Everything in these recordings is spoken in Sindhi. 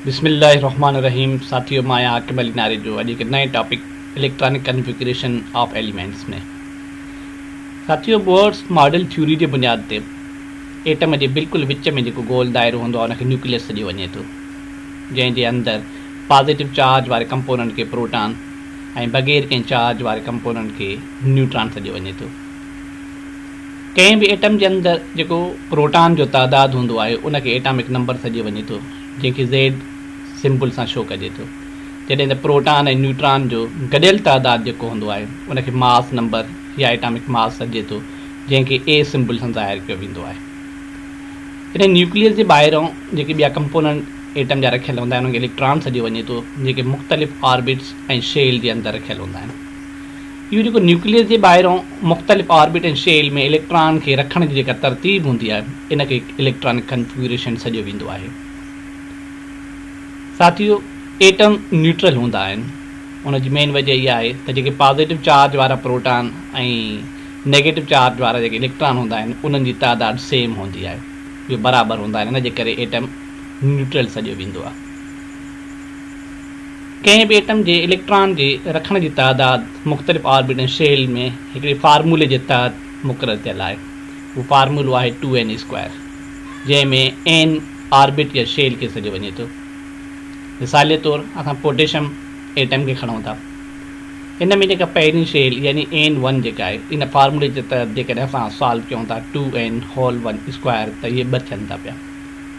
بسم الله الرحمٰن الرحيم ساٿيو مان آهيان عاقب علي ناريجو اڄ هڪ نئين topic electronic configuration of elements ۾ ساٿيو بورس ماڊل ٿيوري جي بنياد تي ايٽم جي بلڪل وچ ۾ جيڪو گول دائرو هوندو آهي ان کي نيوڪليس سڏيو وڃي ٿو جنهن جي اندر پازيٽو چارج واري ڪمپوننٽ کي پروٽان ۽ بغير ڪنهن چارج واري ڪمپوننٽ کي نيوٽران سڏيو وڃي ٿو ڪنهن به ايٽم جي اندر جيڪو پروٽان جو تعداد هوندو آهي ان کي ايٽامڪ نمبر سڏجي وڃي ٿو جنهن کي زيڊ سمبل سان شو ڪجي ٿو جڏهن ته پروٽان ۽ نيوٽران جو گڏيل تعداد جيڪو هوندو آهي ان کي ماس نمبر يا ايٽامڪ ماس سڏجي ٿو جنهن کي اي سمبل سان ظاهر ڪيو ويندو آهي جڏهن نيوڪليس جي ٻاهرئون جيڪي ٻيا ڪمپوننٽ ايٽم جا رکيل هوندا آهن انهن کي اليڪٽران سڏيو وڃي ٿو جيڪي مختلف آربٽس ۽ شيل جي اندر رکيل هوندا آهن. اهو جيڪو نيوڪليس جي ٻاهران مختلف آربٽ ۽ شيل ۾ اليڪٽران کي رکڻ جي جيڪا ترتيب هوندي آهي ان کي اليڪٽرانڪ ڪنفگريشن سڏيو ويندو آهي. ساٿيو ايٽم نيوٽرل هوندا آهن ان جي مين وجه اها آهي ته جيڪي پازيٽو چارج وارا پروٽان ۽ نيگيٽو چارج وارا جيڪي اليڪٽران هوندا آهن انهن جي تعداد سيم هوندي آهي اهي برابر هوندا آهن ان جي ڪري ايٽم نيوٽرل سڏيو ويندو آهي. ڪنهن به ايٽم جي اليڪٽران جي رکڻ جي تعداد مختلف آربيٽن شيل ۾ هڪڙي فارمولي جي تحت مقرر ٿيل آهي. اهو فارمولو آهي ٽو اين اي اسڪوائر جنهن ۾ اين آربيٽ يا شيل کي سڏيو وڃي ٿو. مثالي طور اسان پوٽيشم ايٽم کي کڻون ٿا. ان ۾ جيڪا پهرين شيل يعني اين ون جيڪا آهي ان فارمولي جي تحت جيڪڏهن اسان سالو ڪيون ٿا two n whole one square ته اهي ٻه ٿين ٿا پيا.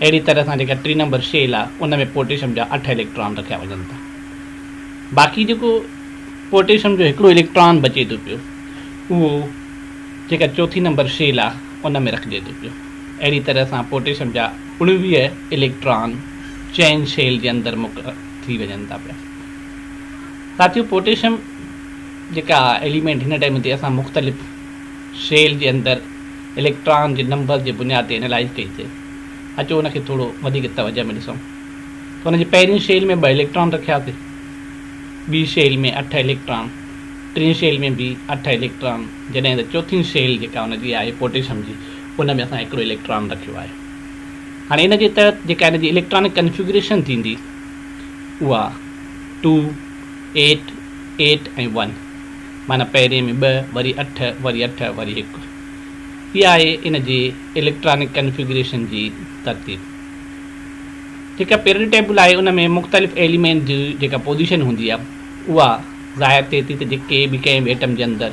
اهڙي طرح سان جيڪا ٽي نمبر شيل آهي ان ۾ پوٽيشم جا اٺ اليڪٽران رکيا وڃن ٿا باقي جيڪو پوٽيشم جو هڪڙو اليڪٽران بچي ٿو پيو اهو جيڪا چوٿين نمبر شيل آهي ان ۾ رکجي ٿو پيو اهڙي طرح سان پوٽيشم جا اڻويهه اليڪٽران چئن شيل جي اندر مڪ ٿي وڃن ٿا پيا ساٿيو پوٽيشم جيڪا ايليمينٽ هن ٽائيم تي اسان مختلف شيل جي اندر اليڪٽران جي نمبر جي بنياد تي انالائيز ڪئي ٿي. اچو ان کي ٿورو وڌيڪ توجه ۾ ڏسون ته ان جي پهرين شيل ۾ ٻه اليڪٽران رکيا ٿي، ٻي شيل ۾ اٺ اليڪٽران، ٽين شيل ۾ به اٺ اليڪٽران جڏهن ته چوٿين شيل جيڪا ان جي آهي پوٽيشم جي ان ۾ اسان هڪڙو اليڪٽران رکيو آهي. هاڻي ان جي تحت جيڪا ان جي اليڪٽرانڪ ڪنفيگريشن ٿيندي اها ٽو، ايٽ، ايٽ ۽ ون معنيٰ پهرين ۾ ٻه وري اٺ وري اٺ وري هڪ. اها آهي ان جي اليڪٽرانڪ ڪنفيگريشن جي ترتيب. جيڪا پيرڊ ٽيبل آهي ان ۾ مختلف ايليمينٽ جي جيڪا پوزيشن هوندي آهي اها ظاهر ٿئي ٿي ته جيڪي به ڪنهن به ايٽم جي اندر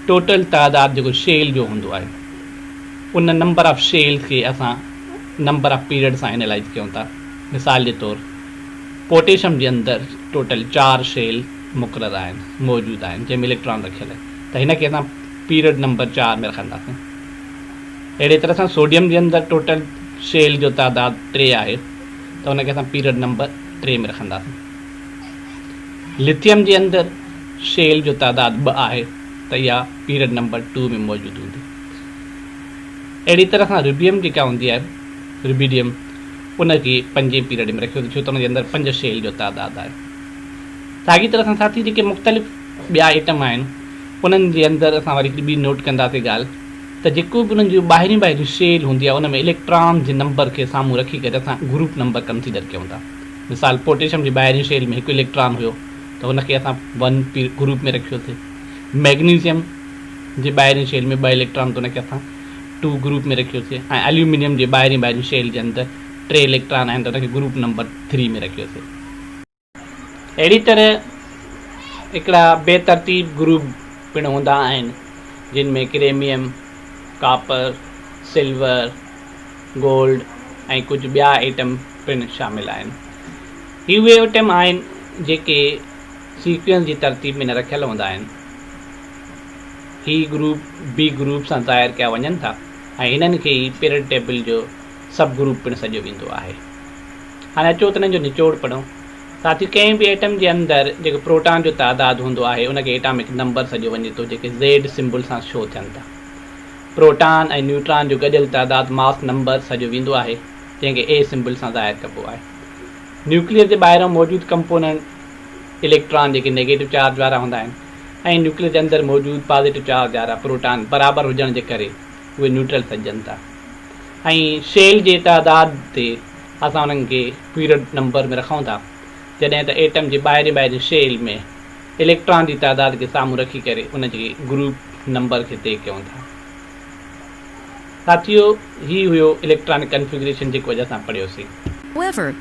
ٽوٽل تعداد جيڪو شيل جو هوندو آهي ان نمبر آف شيلز کي اسان نمبر آف پيرڊ سان اينالائز ڪيون ٿا مثال جي طور پوٽيشم جي اندر ٽوٽل چار شيل مقرر آهن موجود آهن جنهن ۾ اليڪٽران رکيل آهي ته هن کي اسان پيرڊ نمبر چار ۾ رکنداسين. اهڙي طرح سان سوڊيم جي اندر ٽوٽل شيل جو تعداد ٽي آهي ته ان کي اسان پيرڊ نمبر ٽي ۾ رکنداسين. لٿيم جي اندر شيل جو تعداد ٻه آهي ته اها پيرڊ نمبر ٽو ۾ موجود هوندي. اهڙي طرح سان ربيم جيڪا هوندي آهي، ربيڊيم، ان کي پنجين پيرڊ ۾ رکيو ڇو ته ان جي اندر پنج شيل جو تعداد آهي. ساڳي طرح سان ساٿي جيڪي مختلف ٻيا ائٽم آهن، انهن جي اندر اسان وري هڪڙي ٻي نوٽ ڪنداسين ڳالهه ته جيڪو به انهن جون ٻاهريون ٻاهريون شيل هوندي آهي ان ۾ اليڪٽران جي نمبر کي سامهون رکي ڪري اسان گروپ نمبر ڪنسيڊر ڪيون ٿا مثال پوٽيشم جي ٻاهرين شيل ۾ هڪ اليڪٽران هيو ته ان کي اسان ون پي گروپ ۾ رکيوسي مئگنيزيم جي ٻاهرين شيل ۾ ٻه اليڪٽران ته ان کي اسان ٽو گروپ ۾ رکيوسي ۽ اليومينيم جي ٻاهرين ٻاهرين شيل جي اندر ٽي اليڪٽران آهن ته ان کي گروپ نمبر ٿري ۾ رکيوسي. اهڙي طرح هڪڙا بي ترتيب گروپ پڻ هوندا آهن جن ۾ ڪريميم، ڪاپر، سلور، گولڊ ۽ ڪجهه ٻيا ايٽم پڻ شامل آهن. هي اهي ايٽم آهن جيڪي سيڪوينس جي ترتيب ۾ نه رکيل هوندا آهن. هي گروپ بي گروپ سان ظاهر ڪيا وڃن ٿا ۽ هنن کي ئي پيرڊ ٽيبل جو سب گروپ پڻ سڏيو ويندو آهي. هاڻي اچو ته انهن جو نچوڙ پڙهون. ساٿيو ڪنهن به ايٽم جي اندر جيڪو پروٽان جو تعداد هوندو آهي ان کي ايٽامڪ نمبر سڏيو وڃي ٿو جيڪي زيڊ سمبل سان شو ٿين ٿا. پروٽان ۽ نيوٽران جو گڏيل تعداد ماس نمبر سڏيو ويندو آهي جنهن کي اي سمبل سان ظاهر ڪبو آهي. نيوڪليس جي ٻاهران موجود ڪمپوننٽ اليڪٽران جيڪي نيگيٽو چارج وارا هوندا آهن ۽ نيوڪليس جي اندر موجود پازيٽو چارج وارا پروٽان برابر هجڻ جي ڪري اهي نيوٽرل سڏجن ٿا. ۽ شيل جي تعداد تي اسان انهن کي پيريڊ نمبر ۾ رکون ٿا جڏهن ته ايٽم جي ٻاهرين ٻاهرين شيل ۾ اليڪٽران جي تعداد کي سامهون رکي ڪري ان جي گروپ نمبر کي طئي ڪيون ٿا. ساٿيو هي هيو اليڪٽرانڪ ڪنفيگريشن جيڪو اڄ اسان پڙهيوسين. However،